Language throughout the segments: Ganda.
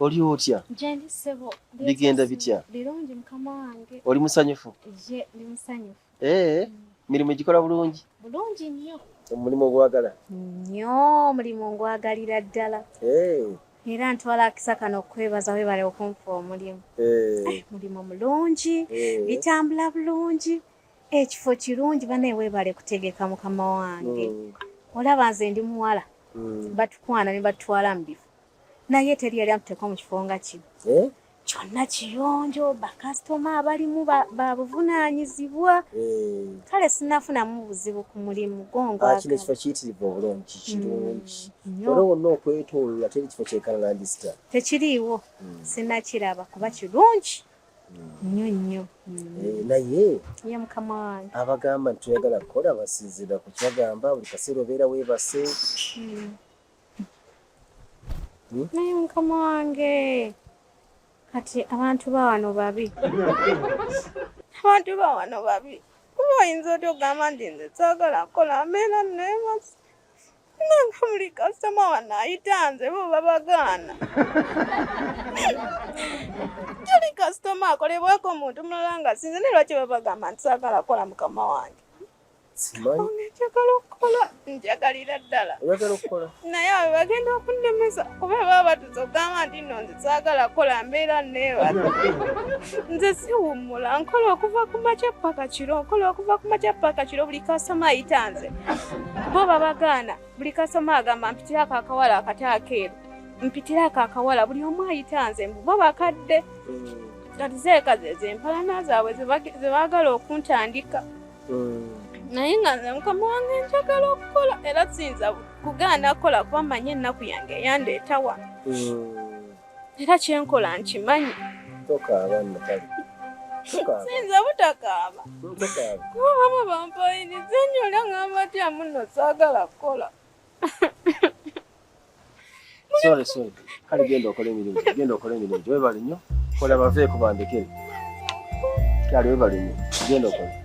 Oli otya? Gyendi ssebo. Bigenda bitya? Birungi mukama wange. Oli musanyufu? Ye, ndi musanyufu. Ee, mm. mirimu gikola bulungi? Bulungi nnyo. Omulimu ogwagala? Nnyo, omulimu ngwagalira ddala. Ee. Era ntwala akisa kano okukwebaza webale okunfa omulimu. Ee. Eh, mulimu mulungi, eh. bitambula bulungi, ekifo kirungi banaye webale kutegeka mukama wange. Mm. Olaba nze ndi muwala. Mm. Batukwana ne batwala mu bifo. naye teri yali atuteeka mu kifo nga kino eh? kyonna kiyonjo bakasitoma abalimu babuvunaanyizibwa eh. kale sinafunamu buzibu ku mulimu gwongwakino ah, kifo kiyitirivu obulungi mm, kirungi wala wonna okwetoloola teri kifo kyekalalandisita tekiriiwo mm. sinakiraba kuba kirungi nnyo nnyo eh, naye ye mukama wange abagamba nti tuyagala kukola basinzira ku kyagamba buli kaseera obeera weebase hmm. hmm? naye mukama wange kati abantu bawano babi abantu bawano babi kuba oyinza oti ogamba nti nze saagala kukola mbeera naye basi nanga buli kasitoma wano ayita nze bo babagaana tuli kasitoma akolebwako omuntu mulala nga sinze ne lwaki babagamba nti saagala kukola mukama wange njagala okukola njagalira ddala naye abo bagenda okunnemesa kuba baba batuza okugamba nti no nze saagala kukola mbeera neebala nze siwummula nkola okuva ku makya paka kiro nkola okuva ku makya paka kiro buli kasitoma ayita nze bo babagaana buli kasitoma agamba mpitirako akawala akati akeeru mpitirako akawala buli omu ayita nze mbu bo bakadde mm. kati zeekazi ezo empalana zaabwe ze baagala okuntandika naye nga nze mukama wange njagala okukola era siyinza kugaana kukola kuba manyi ennaku yange eyandeetawa era kyenkola nkimanyi siyinza butakaaba kuba baba bampayiriza nnyo era ngamba tya muno saagala kukola Sorry, sorry. Kale genda okole emirimu. Genda okole emirimu. Webale nnyo. Kola bave ku bandekere. Kale webale nnyo. Genda okole.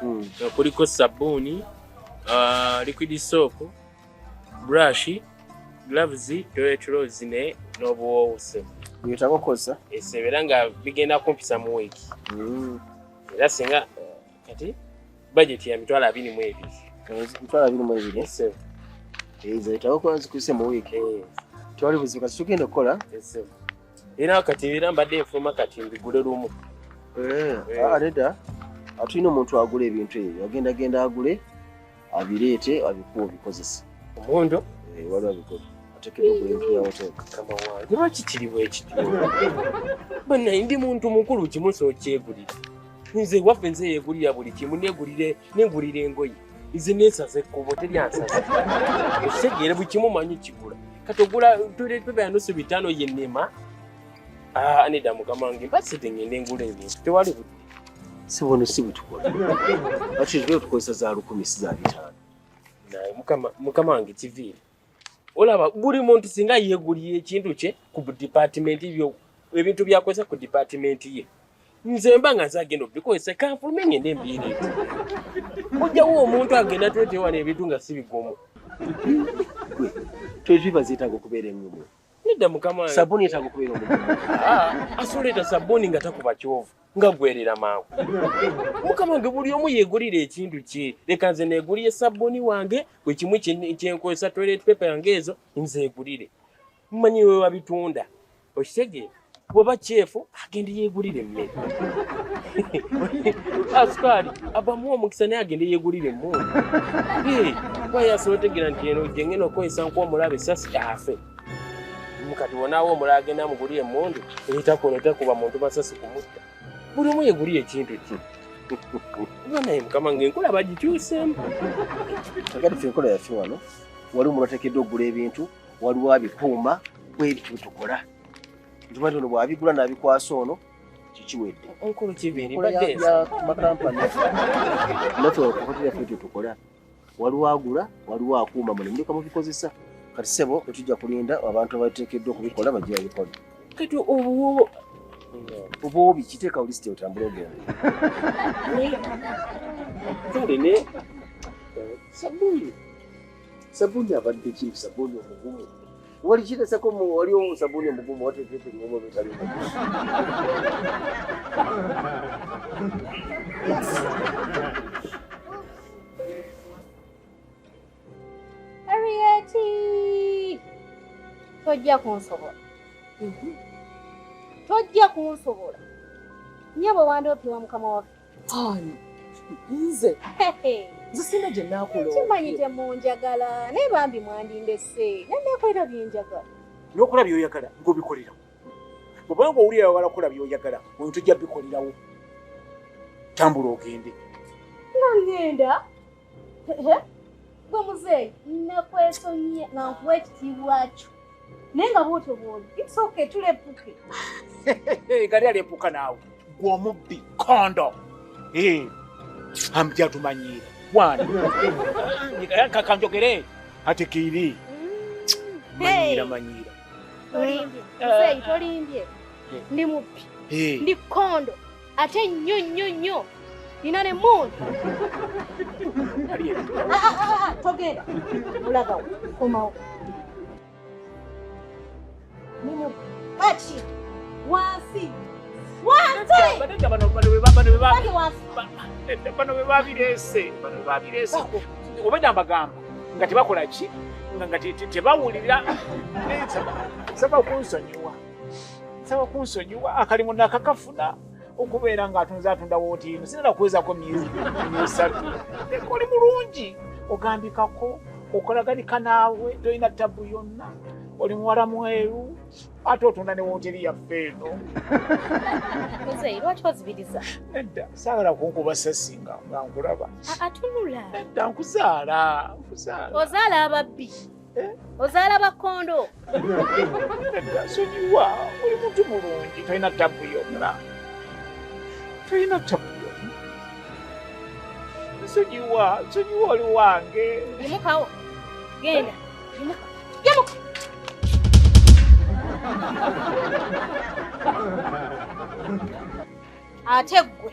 hmm. nga kuliko sabbuuni uh, liquid soap brush gloves toilet rolls ne n'obuwoowo sebo byetaba okozesa esebeera nga bigenda kumpisa mu wiiki hmm. era singa kati bajeti ya mitwalo abiri mu ebiri mitwalo abiri mu ebiri sebo ezo etaba okuba zikuse mu wiiki eh. tewali buzibu kasi tugenda okukola era kati era mbadde enfuma kati mbigule lumu eh, eh. Ah, reda atulina omuntu agula ebintu ebyo agenda genda agule abireete abikuwa obikozesa omundo eh, wali abikola atekedde ogula empya ya hoteli kama wange lwaki kiri bwekityo banaye ndi muntu mukulu kimusa okyegulira nze waffe nze yegulira buli kimu negulire negulira engoye izi nesaze kubo teri ansaze okitegere buli kimu manyi kigula kati ogula tuletubera nusu bitano yenema ah, aneda mukama wange mbasite ngende ngula ebintu tewali budde si buno si butukola ati tukozesa za lukumi si za bitano naye mukama wange kiviire olaba buli muntu singa yeguliye ekintu kye ku department byo ebintu byakozesa ku department ye nze mba nga zagenda obikozesa kanfulume ngende mbiiri ojjawo omuntu agenda twetewana ebintu nga si bigomo toziba zeetaaga okubeera enyumu Nedda mukama wange. Sabuni etago kubera omuntu. Ah, asole ta sabuni nga takuba kyovu. Nga gwerera mangu. Mukama wange buli omu yegulira ekintu kye. Leka nze neguliye sabuni wange bwe kimu kyenkozesa toilet paper yange ezo nze egulire. Mmanyi wewe wabitunda. Okitegeera? bweba kyefu agende yegulire emmere asukaali abamu omukisa naye agende yegulire emmundu kuba yasobotegera nti eno jengena okukozesa nkuba omulabe sasi afe mukati wonawo omulala agenda mugulire emmundu eitakono etakuba muntu masasi kumutta buli omu yegulire ekintu ki kuba naye mukama nga enkola bagikyusemu agati fe enkola yaffe wano waliwo mulatekeddwa okugula ebintu waliwo abikuuma kwebitutukola nkimanti ono bwabigula nabikwasa ono kikiwedde nkulu kibirimakampani nafeokokotirafetu tukola waliwo agula waliwo akuuma mune muleka mubikozesa kati sebo etujja kulinda abantu abatekeddwa okubikola bajja babikola kati obuwobo obuwobi kiteeka olisiti otambula ogenda kale ne sabuni sabuni abadde ki sabuni omugumu Wali shida sako mu wali omu sabuni mgumu wote vipi ngumu vitali. Arieti. Tojja kunsobola. Mhm. Tojja kunsobola. Nyabo wande opiwa mukama waffe. Ani? Nze. Nze sina gye naakuloopa. Kimanyi temunjagala naye bambi mwandindese. Naye neekolera bye njagala. N'okola by'oyagala ng'obikolera. Bw'oba ng'owulira wala kola by'oyagala oyo tujja bikolerawo. Tambula ogende. Nga ngenda? gwe muzeeyi nakwesonyiye nga nkuwa ekitiibwa kyo naye nga bwotyo bwobi its okay tulepuke gari alepuka naawe gwe omubbi kondo eh, amja tumanyiira wani kanjogere ati kiiri mm. manyiira manyiira tolimbye muzeeyi tolimbye eh. ndi mubbi eh. ndi kondo ate nnyo nnyo nnyo nina ne muunu ah, ah, ah, togenda olagawo komawo baki wansi bano bebabirese obeda mbagamba nga tebakola ki nga tebawulira saba kunsonyiwa nsaba kunsonyiwa akalimu nakakafuna okubeera ng'atunze atunda wootiino sinala kuwezako myezi esatu oli mulungi ogambikako okolaganika naawe tolina ttabu yonna oli muwala mweru ate otunda ne wooteri yaffe eno edda saagala kunkuba sasi nga nkulaba nedda nkuzaala nkuzaala ozaala ababbi Eh? ozaala bakkondo sonyiwa oli muntu mulungi tolina tabu yonna tolina tabu yonna sonyiwa sonyiwa oli wange yimukawo genda yimuka yimuka ate ggwe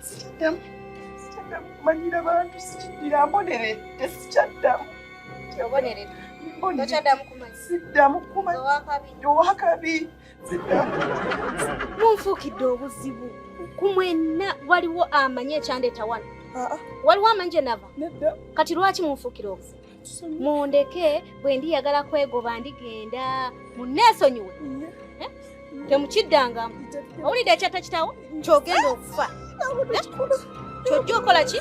sikiddamu sikiddamu kumanyira bantu sikiddira mboneredde sikyaddamu siddamu kumanyowakabi siddamu munfuukidde obuzibu ku mwenna waliwo amanyi ekyandeeta wano ah, ah. waliwo amanyi gye nava kati lwaki munfuukira obuzibu mundeke bwe ndiyagala kwegoba ndigenda munneesonyiwe eh? temukiddangamu owulidde ekyatta kitawo kyogenda okufa eh? kyojja okola ki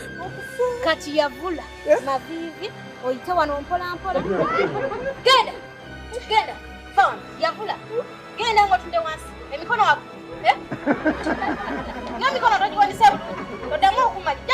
kati yavula eh? maviivi oyite wano mpolampola genda genda fon yavula genda ngaotunde wansi emikono wako nemikono togiwanise oddamu okumanya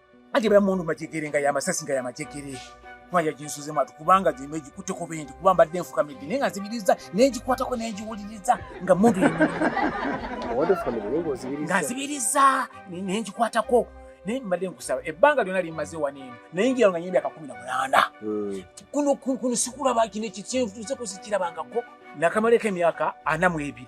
ate bala mundu majegere nga yamasasi nga yamajegere maya ginsuzemu ati kubanga gino egikutteko bendi kuba mbadde enfukamidde naye nga nzibiriza nengikwatako nengiwuliriza nga mundu nga nzibiriza nengikwatako naye mbadde nkusaba ebbanga lyona limaze waneeno naye ngira nga nyembi akakumi na mulanda hmm. kuno kuno sikulaba kino ekikyenfutuuseko sikirabangako nakamaleko emyaka ana mu ebiri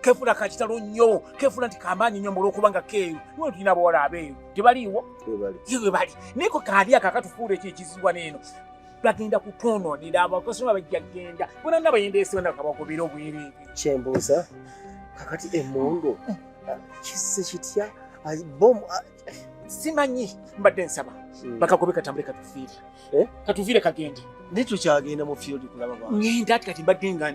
kefula kakitalo nnyo kefula nti kamaanyi nnyo mulwokubanga keeru niwe tulina abawala abeeru tebaliiwo webali naye ko kaali ako akatufuula ekyo ekizibwa neeno bagenda kutwonoonera abakasoma bajja genda bona nga bayenda esibana kabagobera obwerere kyembuuza kakati emundu mm. ah, kisse kitya ah, bomu ah, simanyi mbadde nsaba hmm. bakagobe katambule katufiire eh? katuviire kagende naye tukyagenda mu field kulaba ngenda ati kati mbadde nga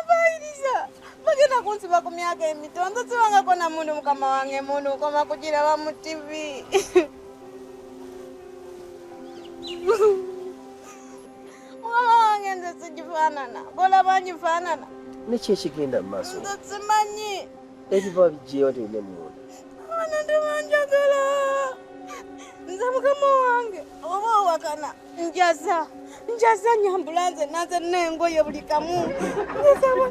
Abayiriza bagenda kunsiba ku myaka emito nzosibangako na mundu mukama wange mundu nkoma kugiraba mu tivi mukama wange nze sigifaanana bolaba ngifaanana niki ekigenda mu maaso nze simanyi ebiva bijewa tebine muwona abana tebanjagala nze mukama wange oba owakana njaza njaza nyambula nze nanze nengoye buli kamu nzaba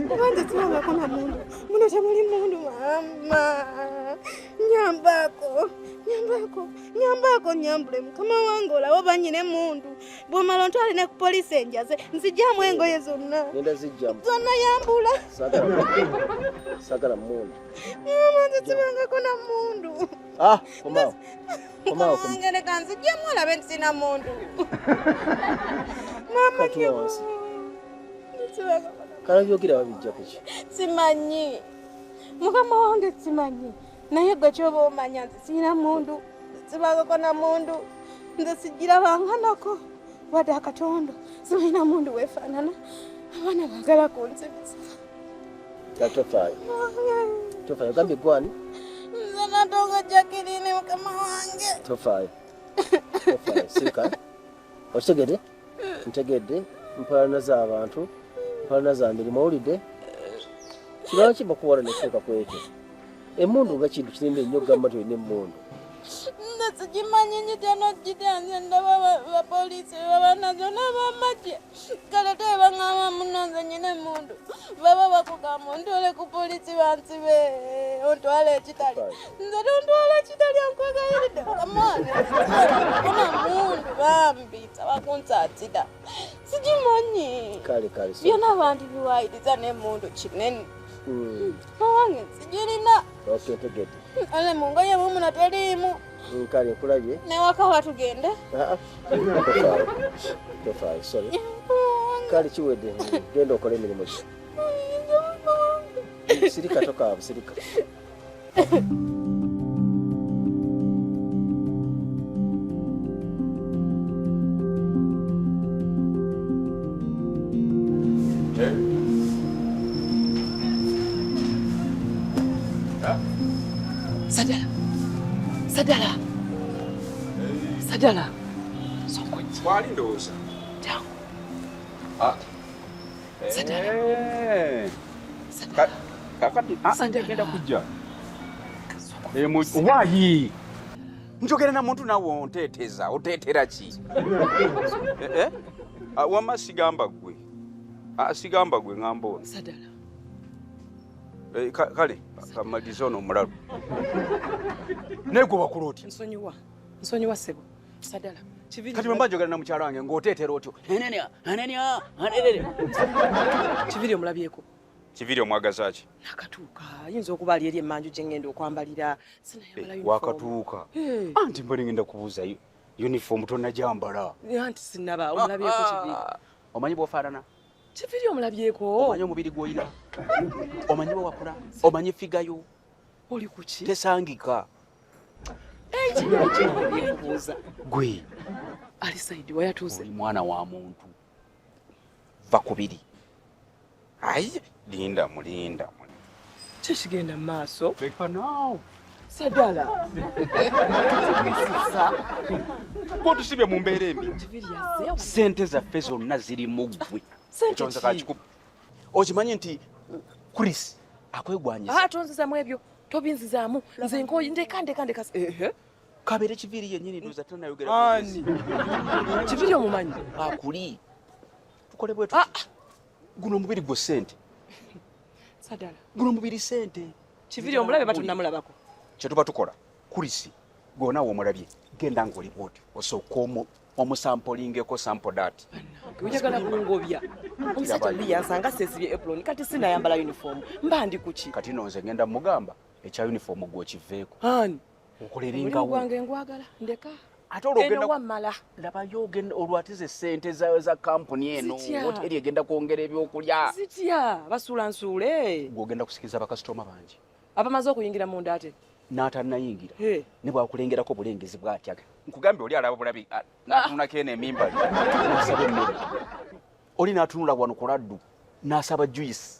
kuba nze siwangako na mundu muno temuli mundu mama nyambako nyambako nyambako nyambule mukama wange olawo banyine mundu bwomala ontwale ne ku polisi enjaze nzijamu engoye zonna zonna yambula sagala mundu mama nze siwangako na mundu ah, Ngende kanzi jemu ala bensina mundu. Mama kyo. Kala yogera wabijja kuki? Simanyi. Mukama wange simanyi. Naye gwe kyoba omanya nti sirina mundu sibagako na mundu nze sigira banganako wadde akatondo sirina mundu wefaanana abaana bagala kunzibisa Tofali. Tofali ogambye gwani? Nze natoka Jacqueline mukama wange. Tofali. Tofali sirika. Okitegedde? Ntegedde mpalana z'abantu mpalana za mirimu owulidde kirwaki bakuwala nekifuuka ku ekyo emundu nga kintu kinene nnyo okugamba nti olina emundu nze sigimanyi nyitya nokugitya nze ndaba bapoliisi bebabanazo n'abamagye kale te bang'ama munonze nyine mundu baba bakugamba ontwale ku polisi bansibe ontwale ekitali nze tontwala ekitali ankwegayiride kamone koma mundu bambi saba kunsatida sigimanyi byona abantu biwayiriza nemundu kinene hmm. mawange sijirina ale mungoye mumuna teliimu Nkale nkulabye. Ne waka watu genda. Ah. Tofai, sorry. Kali kiwede genda okole emirimu gyo. Sirika toka, sirika. Sadala. Sadala. Sadala. Songonya. Kwali ndoza. Tangu. Ah. Sadala. Eh. Sadala. Kakati ah, Sadala. Kenda kujja. Eh, mu wayi. Njogera na muntu nawe onteteza, otetera ki? Eh? eh? Ah, wama sigamba gwe. Ah, sigamba gwe ngamba ono. Sadala. Eh, kale kamalize ono omulalu naye gwe wakula otya nsonyiwa nsonyiwa sebo sadala kati bwemba njogera na mukyala wange ng'oteetera otyo anania anania anenene kibiri omulabyeko kibiri omwagaza ki nakatuuka ayinza okuba ali eri emmanju gye ngenda okwambalira sinayambala eh, wakatuuka eh. anti mbali ngenda kubuuza uniform tonajambala anti sinaba omulabyeko kibiri ah, ah, ah. omanyi bwofaanana kiviri omulabyeko omanyi omubiri gwoyina omanyi wewakula omanyi figayo oli kuki tesangika ekiyekyebuuza gwe ali saidi wayatuuse mwana wa muntu va kubiri ayi linda mulinda kyekigenda mumaaso sadala kotusibye mu mbeera embi sente zaffe zonna ziri muggwe okimanyi nti chris akwegwanyisatonzizamu ah, ebyo tobinzizaamu nze nkoyi ndeka ndeka ndeka kabere kiviri yenyini ndoza tunayogera kiviri omumanyi akuli tukole bwetu ah, ah. guno omubiri gwo sente sadala guno omubiri sente kiviri omulabe batunamulabako kyetuba tukola kurisi gwona womulabye genda ngaoli bwoti osooka omu omusampolingeko sampo dat oyagala kungobya omusajja oli yansanga sesibye epuloni kati sinayambala uniform mba ndi kuki kati nonze ngenda mugamba ekya uniform gwokiveeko ani nkoleringa wange ngwagala ndeka ate olwogendawamala labayo ogenda olwatiza esente zayo za kampuni eno woteri egenda kwongera ebyokulya zitya basuula nsuule gwogenda kusikiriza bakasitoma bangi abamaze okuyingira munda ate n'atanayingira ne bwakulengerako obulengezi bwatya nkugambye oli alaba bulabi ah, natunako eno emimba oli natunula wano ku laddu nasaba juice